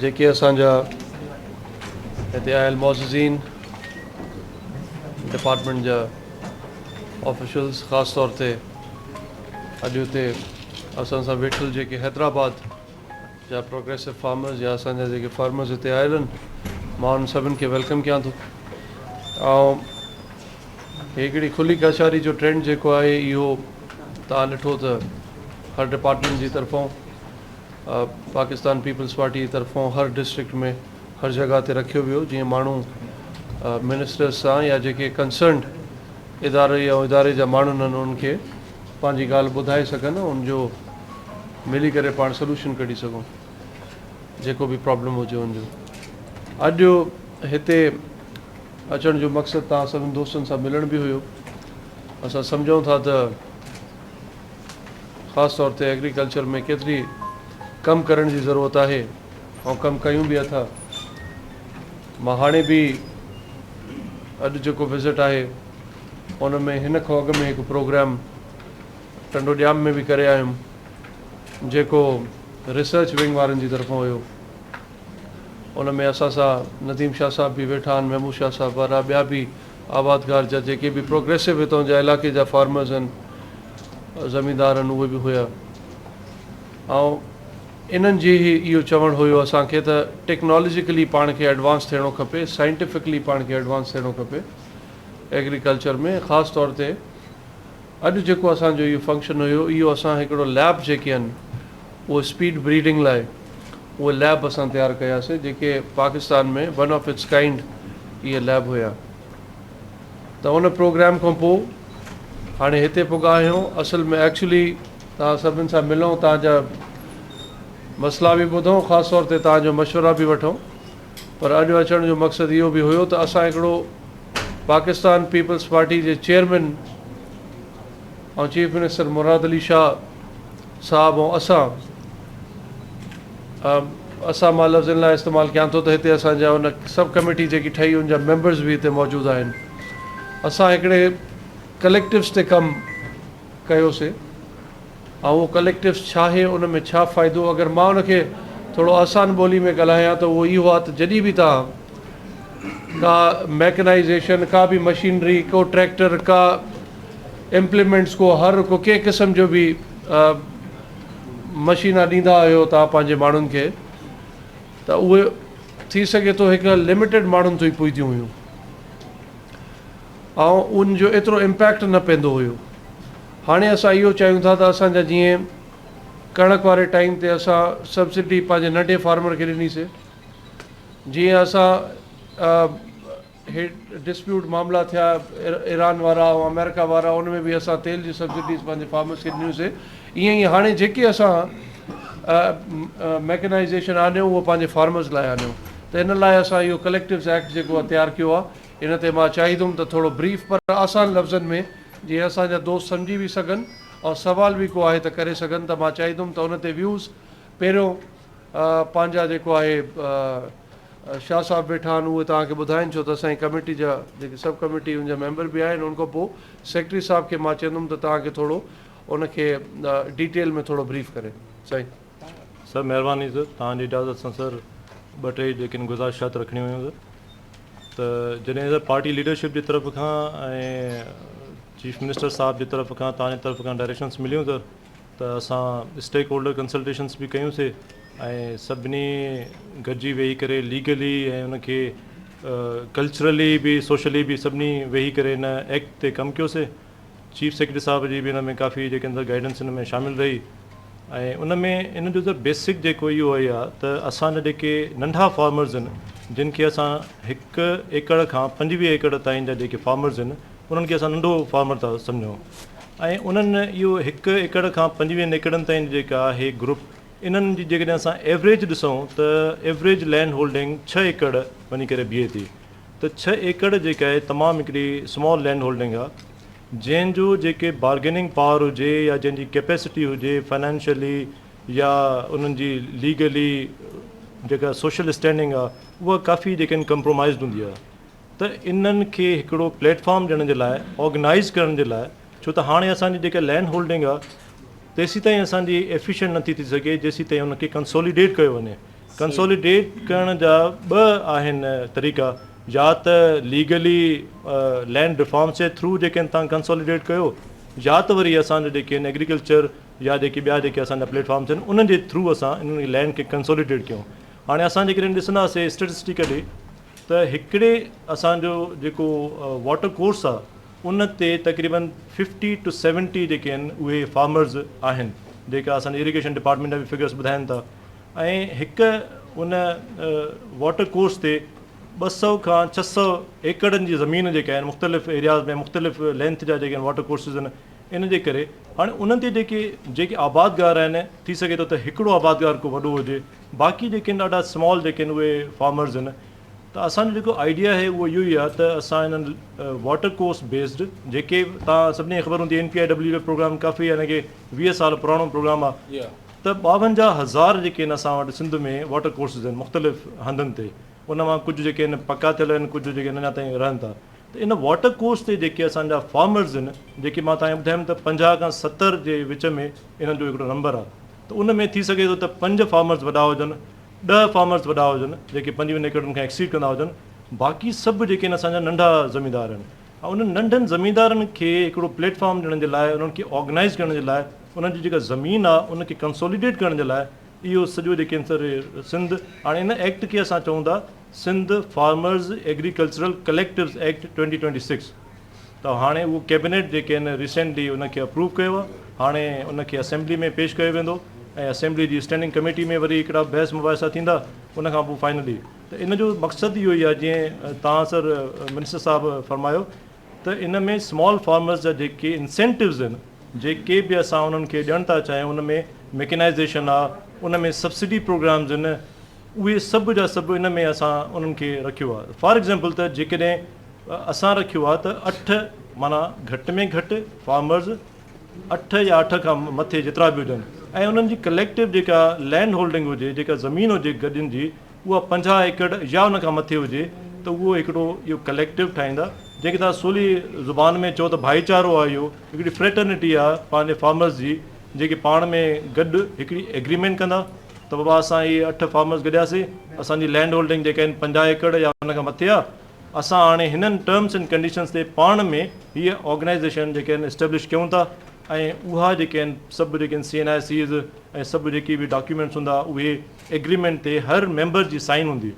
جيڪي اسان جا هتي آيل معززين، ڊپارٽمينٽ جا آفيشلز خاص طور تي اڄ هتي اسان سان ويٺل جيڪي حيدرآباد جا پروگريسو فارمرز يا اسان جا جيڪي فارمرز هتي آيل آهن مان انهن سڀن کي ويلڪم ڪيان ٿو ۽ هڪڙي کلي ڪاچاري جو ٽرينڊ جيڪو آهي اهو تان ڏٺو ته هر ڊپارٽمينٽ جي طرفون پاڪستان پيپلز پارٽي جي طرفان هر ڊسٽرڪٽ ۾ هر جڳهه تي رکيو ويو جيئن ماڻهو منسٽرز سان يا جيڪي ڪنسرنڊ ادارو يا اداري جا ماڻهن آهن انهن کي پنهنجي ڳالهه ٻڌائي سگهن ان جو ملي ڪري پاڻ سلوشن ڪڍي سگهون جيڪو به پرابلم هجي ان جو اڄ جو هتي اچڻ جو مقصد تان سڀن دوستن سان ملڻ به هيو اسان سمجهون ٿا ته خاص طور تي ايگريڪلچر ۾ ڪيتري ڪم ڪرڻ جي ضرورت آهي ۽ ڪم ڪيون به اٿا مان هاڻي به اڄ جيڪو وزٽ آهي ان ۾ هن کان اڳ ۾ هڪ پروگرام ٽنڊو ڄام ۾ به ڪري آيم جيڪو ريسرچ ونگ وارن جي طرفان هيو ان ۾ اسان سان نديم شاهه صاحب به ويٺا آهن محمود شاهه صاحب وارا ٻيا به آبادگار جا جيڪي به پروگريسو هتان جا علائقي جا فارمرز هن زميندار هن اهي به هيا ۽ انهن جي هي اهو چوڻ هيو اسان کي ته ٽيڪنالوجيڪلي پاڻ کي ايڊوانس ٿيڻو کپي سائنٽيفڪلي پاڻ کي ايڊوانس ٿيڻو کپي ايگريڪلچر ۾ خاص طور تي اڄ جيڪو اسان جو اهو فنڪشن هيو اهو اسان هڪڙو ليب جيڪي آهن اهو اسپيڊ بريڊنگ لاء اهي ليب اسان تيار ڪياسي جيڪي Pakistan ۾ one of its kind اهي ليب هيا ته ان پروگرام کان پو هاڻي هتي پڳا آهيون اصل ۾ ايڪچولي تان سڀن سان ملون تان جا مسئلا به ٻڌون خاص طور تي تان جو مشورا به وٺون پر اڄ اچڻ جو مقصد اهو به هيو ته اسان هڪڙو پاڪستان پيپلز پارٽي جي chairman ۽ chief minister Murad Ali Shah صاحب ۽ اسان اسان مان لفظن لاء استعمال ڪيان ٿو ته هتي اسان جا ان سب ڪميٽي جيڪي ٺهي ان جا ميمبرز به هتي موجود آهن اسان هڪڙي ڪليڪٽوز تي ڪم ڪيوسي اهو ڪليڪٽيوس ڇا هي ان ۾ ڇا فائدو اگر مان ان کي ٿورو آسان ٻولي ۾ ڳالهايان ته اهو اهو آ ته جڏهن به توهان ڪا ميڪنائيزيشن ڪا به مشينري ڪو ٽريڪٽر ڪا امپليمينٽس ڪو هر ڪو ڪنهن قسم جو به مشينا ڏيندا آهيو توهان پنهنجي ماڻهن کي ته اهي ٿي سگهي ٿو هڪ لميٽيڊ ماڻهن تائين پهتيون هيون ۽ ان جو ايترو امپيڪٽ نه پيندو هيو هاڻي اسان اهو چاهيون ٿا ته اسان جا جيئن ڪڻڪ واري ٽائيم تي اسان سبسڊي پنهنجي ننڍي فارمر کي ڏني سي جيئن اسان هي ڊسپيوٽ معاملا ٿيا ايران وارا ۽ آمريڪا وارا ان ۾ به اسان تيل جي سبسڊيز پنهنجي فارمرس کي ڏنيون سي ايئن ئي هاڻي جيڪي اسان ميڪنائيزيشن آنيو اهو پنهنجي فارمرس لاء آنيو ته ان لاء اسان اهو ڪليڪٽوز ايڪٽ جيڪو تيار ڪيو آهي ان تي مان چاهيدم ته ٿورو بريف پر آسان لفظن ۾ جيئن اسان جا دوست سمجهي به سگهن ۽ سوال به ڪو آهي ته ڪري سگهن ته مان چاهيدم ته ان تي ويوز پهريون پنهنجا جيڪو آهي شاهه صاحب ويٺا آهن اهي توهان کي ٻڌائين ڇو ته اسان جي ڪميٽي جا جيڪي سب ڪميٽي ان جا ميمبر به آهن ان کانپوء سيڪريٽري صاحب کي مان چيندم ته توهان کي ٿورو ان کي ڊيٽيل ۾ ٿورو بريف ڪري سائين. سر مهرباني سر توهان جي اجازت سان سر ٻه ٽي جيڪي گذارشات رکڻيون هيون سر ته جڏهن سر پارٽي ليڊرشپ جي طرف کان ۽ چيف منسٽر صاحب جي طرف کان توهان جي طرف کان ڊائريڪشنس مليون سر ته اسان اسٽيڪ هولڊر ڪنسلٽيشنس به ڪيون سي ۽ سڀني گڏجي ويهي ڪري ليگلي ۽ ان کي ڪلچرلي به سوشلي به سڀني ويهي ڪري ان ايڪٽ تي ڪم ڪيو سي چيف سيڪريٽري صاحب جي به ان ۾ ڪافي جيڪي اندر گائيڊنس ان ۾ شامل رهي ۽ ان ۾ ان جو ته بيسڪ جيڪو اهو هي آ ته اسان جا جيڪي ننڍا فارمرز ان جن کي اسان هڪ ايڪڙ کان پنجويهه ايڪڙ تائين جا جيڪي فارمرز ان انهن کي اسان ننڍو فارمر ٿا سمجهون ۽ انهن اهو هڪ ايڪڙ کان پنجويهن ايڪڙن تائين جيڪا آهي گروپ انهن جي جيڪڏهن اسان ايوريج ڏسون ته ايوريج لينڊ هولڊنگ ڇهه ايڪڙ وڃي ڪري بيهي ٿي. ته ڇهه ايڪڙ جيڪا اهي تمام هڪڙي سمال لينڊ هولڊنگ آ جنهن جو جيڪي بارگيننگ پاور هجي يا جنهن جي ڪيپيسٽي هجي فنانشلي يا انهن جي ليگلي جيڪا سوشل اسٽينڊنگ آ اها ڪافي جيڪا آهن ڪمپرومائزڊ هوندي آ ته انهن کي هڪڙو پليٽ فارم ڏيڻ جي لاء آرگنائز ڪرڻ جي لاء ڇو ته هاڻي اسان جي جيڪا لينڊ هولڊنگ آ تيسيتائين اسان جي ايفيشنٽ نٿي ٿي سگهي جيسيتائين ان کي ڪنسوليڊيٽ ڪيو وڃي. ڪنسوليڊيٽ ڪرڻ جا ٻه آهن طريقا يا ته ليگلي لينڊ ريفارمس جي ٿرو جيڪي تان ڪنسوليڊيٽ ڪيو يا ته وري اسان جا جيڪي آهن ايگريڪلچر يا جيڪي ٻيا جيڪي اسان جا پليٽ فارمس آهن انهن جي ٿرو اسان انهن کي لينڊ کي ڪنسوليڊيٽ ڪيون هاڻي اسان جيڪڏهن ڏسنداسي اسٽيٽسٽيڪلي ته هڪڙي اسان جو جيڪو واٽر ڪورس آهي ان تي تقريبن ففٽي ٽو سيونٽي جيڪي آهن اهي فارمرز آهن جيڪا اسان جي ايريگيشن ڊپارٽمينٽ جا به فگرس ٻڌائين ٿا ۽ هڪ ان واٽر ڪورس تي ٻه سؤ کان ڇهه سؤ ايڪڙن جي زمين جيڪا آهن مختلف ايرياز ۾ مختلف لينٿ جا جيڪي واٽر ڪورسز آهن ان جي ڪري هاڻي انهن تي جيڪي جيڪي آبادگار آهن ٿي سگهي ٿو ته هڪڙو آبادگار ڪو وڏو هجي باقي جيڪي آهن ڏاڍا سمال جيڪي آهن اهي فارمرز آهن ته اسان جو جيڪو آئيڊيا آهي اهو اهو ئي آهي ته اسان انهن واٽر ڪورس بيسڊ جيڪي تان سڀني کي خبر هوندي اين پي آء ڊبليو جو پروگرام ڪافي يعني ڪي ويهه سال پراڻو پروگرام آهي ته ٻاونجاهه هزار جيڪي هن اسان وٽ سنڌ ۾ واٽر ڪورسز آهن مختلف هنڌن تي ان مان ڪجهه جيڪي هن پڪا ٿيل آهن ڪجهه جيڪي اڃا تائين رهن ٿا ته ان واٽر ڪورس تي جيڪي اسان جا فارمرز آهن جيڪي مان توهان کي ٻڌايم ته پنجاهه کان ستر جي وچ ۾ انهن جو هڪڙو نمبر آهي ته ان ۾ ٿي سگهي ٿو ته پنج فارمرز وڏا هجن ڏهه فارمرز وڏا هجن جيڪي پنجويهن ايڪڙن کان ايڪسيڊ ڪندا هجن باقي سڀ جيڪي آهن اسان جا ننڍا زميندار آهن انهن ننڍن زميندارن کي هڪڙو پليٽ فارم ڏيڻ جي لاء انهن کي آرگنائيز ڪرڻ جي لاء انهن جي جيڪا زمين آ ان کي ڪنسوليڊيٽ ڪرڻ جي لاء اهو سڄو جيڪي سر سنڌ هاڻي ان ايڪٽ کي اسان چئون ٿا Sindh farmers agricultural collectives act twenty twenty six ته هاڻي اهو ڪيبنيٽ جيڪي آهن ريسينٽلي ان کي اپروو ڪيو آ هاڻي ان کي اسيمبلي ۾ پيش ڪيو ويندو ۽ اسيمبلي جي اسٽينڊنگ ڪميٽي ۾ وري هڪڙا بحث مباحثا ٿيندا ان کان پوء فائنلي ته ان جو مقصد اهو ئي آهي جيئن تان سر منسٽر صاحب فرمايو ته ان ۾ سمال فارمرز جا جيڪي انسينٽوز آهن جيڪي به اسان انهن کي ڏيڻ ٿا چاهيون ان ۾ ميڪنائيزيشن آهي ان ۾ سبسڊي پروگرامز آهن اهي سڀ جا سڀ ان ۾ اسان انهن کي رکيو آهي فار ايگزامپل ته جيڪڏهن اسان رکيو آهي ته اٺ معنيٰ گهٽ ۾ گهٽ فارمرز اٺ يا اٺ کان مٿي جيترا به هجن ۽ انهن جي ڪليڪٽو جيڪا لينڊ هولڊنگ هجي جيڪا زمين هجي گڏين جي اها پنجاهه ايڪڙ يا ان کان مٿي هجي ته اهو هڪڙو اهو ڪليڪٽو ٺاهيندا جنهن کي توهان سولي زبان ۾ چئو ته ڀائيچارو آهي اهو هڪڙي فريٽرنٽي آهي پنهنجي فارمرز جي جيڪي پاڻ ۾ گڏ هڪڙي ايگريمينٽ ڪندا ته بابا اسان اهي اٺ فارمرز گڏياسين اسان جي لينڊ هولڊنگ جيڪا آهن پنجاهه ايڪڙ يا ان کان مٿي آهي اسان هاڻي هنن ٽرمز اينڊ ڪنڊيشنز تي پاڻ ۾ هيء آرگنائيزيشن جيڪي آهن اسٽيبلش ڪيون ٿا ۽ اها جيڪي آهن سڀ جيڪي آهن سي اين آء سيز ۽ سڀ جيڪي به ڊاڪيومينٽس هوندا اهي ايگريمينٽ تي هر ميمبر جي سائين هوندي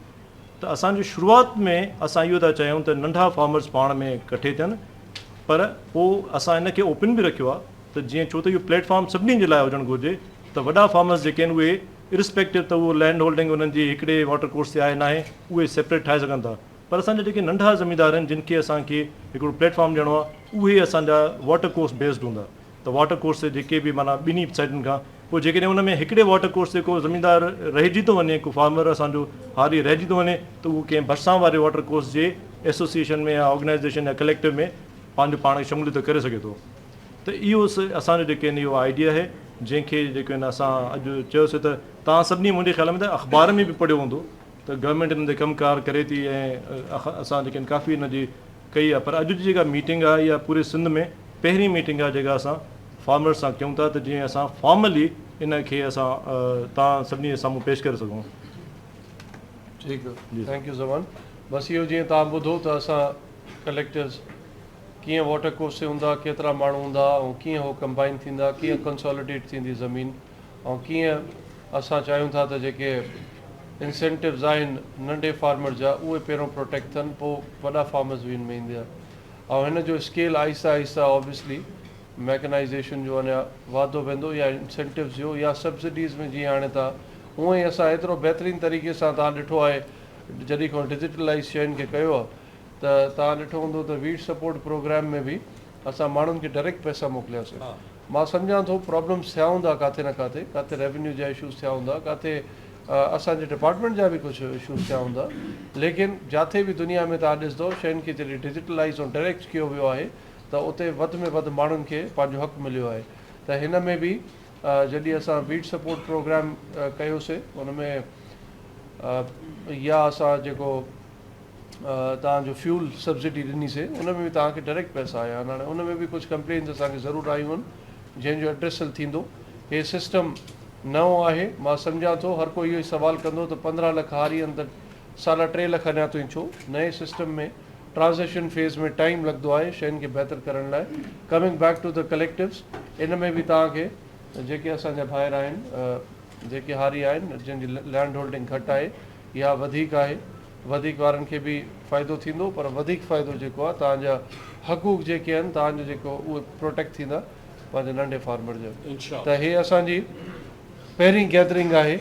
ته اسان جو شروعات ۾ اسان اهو ٿا چاهيون ته ننڍا فارمرز پاڻ ۾ ڪٺي ٿين پر پوء اسان ان کي اوپن به رکيو آهي ته جيئن ڇو ته اهو پليٽ فارم سڀني جي لاء هجڻ گهرجي ته وڏا فارمرز جيڪي آهن اهي ارسپيڪٽو ته اهو لينڊ هولڊنگ انهن جي هڪڙي واٽر ڪورس تي آهي ناهي اهي سيپريٽ ٺاهي سگهن ٿا پر اسان جا جيڪي ننڍا زميندار آهن جن کي اسان کي هڪڙو پليٽ فارم ڏيڻو آهي اهي اسان جا واٽر ڪورس بيسڊ هوندا ته واٽر ڪورس تي جيڪي به معنيٰ ٻنهي سائيڊن کان پوء جيڪڏهن ان ۾ هڪڙي واٽر ڪورس تي ڪو زميندار رهجي ٿو وڃي ڪو فارمر اسان جو هاري رهجي ٿو وڃي ته اهو ڪنهن ڀرسان واري واٽر ڪورس جي ايسوسيئيشن ۾ يا آرگنائيزيشن يا ڪليڪٽو ۾ پنهنجو پاڻ کي شموليت ڪري سگهي ٿو ته اهو اسان جو جيڪي اهو آئيڊيا آهي جنهن کي جيڪي اسان اڄ چيوسي ته توهان سڀني منهنجي خيال ۾ ته اخبار ۾ به پڙهيو هوندو ته گورنمينٽ ان تي ڪم ڪار ڪري ٿي ۽ اسان جيڪي ڪافي ان جي ڪئي آ پر اڄ جي جيڪا ميٽنگ آ اها پوري سنڌ ۾ پهرين ميٽنگ آ جيڪا اسان فارمرز سان ڪيون ٿا ته جيئن اسان فارملي ان کي اسان تان سڀني جي سامهون پيش ڪري سگهون. ٺيڪ آ ٿينڪ يو زمان بس اهو جيئن تان ٻڌو ته اسان ڪليڪٽرز ڪيئن واٽر ڪورسي هوندا ڪيترا ماڻهو هوندا ۽ ڪيئن هو ڪمبائن ٿيندا ڪيئن ڪنساليڊيٽ ٿيندي زمين ۽ ڪيئن اسان چاهيون ٿا ته جيڪي انسينٽوز آهن ننڍي فارمر جا اهي پهريون پروٽيڪٽ ٿين پوء وڏا فارمرز وين ۾ ايندا ۽ هن جو اسڪيل آهستي آهستي اوبيسلي ميڪنائيزيشن جو اڃا واڌو ويندو يا انسينٽوز جو يا سبسڊيز ۾ جيئن آڻي ٿا هونئن ئي اسان ايترو بهترين طريقي سان توهان ڏٺو آهي جڏهن کان ڊجيٽلائيز شين کي ڪيو آهي ته توهان ڏٺو هوندو ته ويٽ سپورٽ پروگرام ۾ به اسان ماڻهن کي ڊريڪٽ پئسا موڪلياسين مان سمجهان ٿو پرابلمس ٿيا هوندا ڪاٿي نه ڪاٿي ڪاٿي ريونيو جا اشوز ٿيا هوندا ڪاٿي اسان جي ڊپارٽمينٽ جا به ڪجهه اشوز ٿيا هوندا ليڪن جاٿي به دنيا ۾ توهان ڏسندو شين کي جڏهن ڊجيٽلائز ۽ ڊريڪٽ ڪيو ويو آهي ته اتي وڌ ۾ وڌ ماڻهن کي پنهنجو حق مليو آهي ته هن ۾ به جڏهن اسان ويٽ سپورٽ پروگرام ڪيوسي ان ۾ يا اسان جيڪو توهان جو فيول سبسڊي ڏني سي ان ۾ به توهان کي ڊائريڪٽ پئسا آيا آهن هاڻي ان ۾ به ڪجهه ڪمپلينز اسان کي ضرور آيون آهن جنهن جو ايڊريسل ٿيندو هي سسٽم نئون آهي مان سمجهان ٿو هر ڪو اهو ئي سوال ڪندو ته پندرهن لک هاري آهن ته ساڍا ٽي لک اڃا تائين ڇو نئين سسٽم ۾ ٽرانزيشن فيز ۾ ٽائيم لڳندو آهي شين کي بهتر ڪرڻ لاء ڪمنگ بيڪ ٽو ته ڪليڪٽوز ان ۾ به توهان کي جيڪي اسان جا ڀائر آهن جيڪي هاري آهن جن جي لينڊ هولڊنگ گهٽ آهي اها وڌيڪ آهي وڌيڪ وارن کي به فائدو ٿيندو پر وڌيڪ فائدو جيڪو آهي توهان جا حقوق جيڪي آهن توهان جو جيڪو اهي پروٽيڪٽ ٿيندا پنهنجي ننڍي فارمر جا ته هي اسان جي پهرين گيدرنگ آهي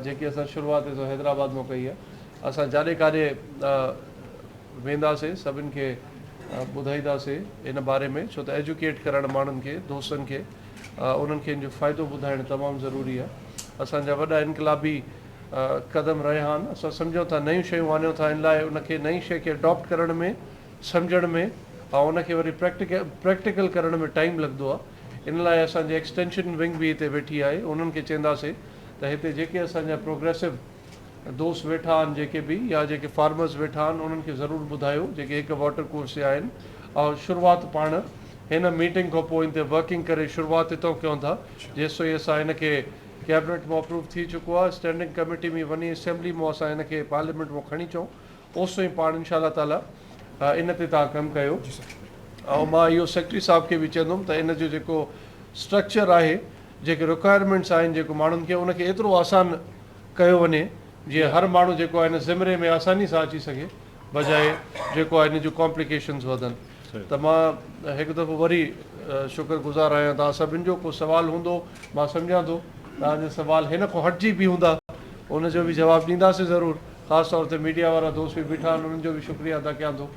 جيڪي اسان شروعات سو حيدرآباد مون ڪئي آهي اسان جاڏي ڪاڏي وينداسي سڀن کي ٻڌائينداسي ان باري ۾ ڇو ته ايجوڪيٽ ڪرڻ ماڻهن کي دوستن کي انهن کي ان جو فائدو ٻڌائڻ تمام ضروري آهي اسان جا وڏا انقلابي قدم رهيا آهن اسان سمجهون ٿا نيون شيون آڻيون ٿا ان لاء ان کي نئين شيء کي اڊاپٽ ڪرڻ ۾ سمجهڻ ۾ ۽ ان کي وري پريڪٽيڪل ڪرڻ ۾ ٽائيم لڳندو آهي ان لاء اسان جي ايڪسٽينشن ونگ به هتي ويٺي آهي انهن کي چينداسي ته هتي جيڪي اسان جا پروگريسو دوست ويٺا آهن جيڪي به يا جيڪي فارمرز ويٺا آهن انهن کي ضرور ٻڌايو جيڪي هڪ واٽر ڪورس جا آهن ۽ شروعات پاڻ هن ميٽنگ کان پوء ان تي ورڪنگ ڪري شروعات هتان ڪيون ٿا جيسين اسان ان کي ڪيبنيٽ ۾ اپروو ٿي چڪو آهي اسٽينڊنگ ڪميٽي ۾ وڃي اسيمبلي مون اسان ان کي پارليامينٽ مون کڻي چون اوسو ئي پاڻ انشاء الله تعالي ان تي تان ڪم ڪيو ۽ مان اهو سيڪريٽري صاحب کي به چوندم ته ان جو جيڪو اسٽرڪچر آهي جيڪي رڪوائرمينٽس آهن جيڪو ماڻهن کي ان کي ايترو آسان ڪيو وڃي جي هر ماڻهو جيڪو آهي ان زمري ۾ آساني سان اچي سگهي بجاء جيڪو آهي ان جون ڪامپليڪيشنز وڌن ته مان هڪ دفعو وري شڪر گذار آهيان توهان سڀن جو ڪو سوال هوندو مان سمجهان ٿو توهان جا سوال هن کان هٽجي به هوندا ان جو به جواب ڏينداسين ضرور خاص طور تي ميڊيا وارا دوست به بيٺا آهن انهن جو به شڪريه ادا ڪيان ٿو.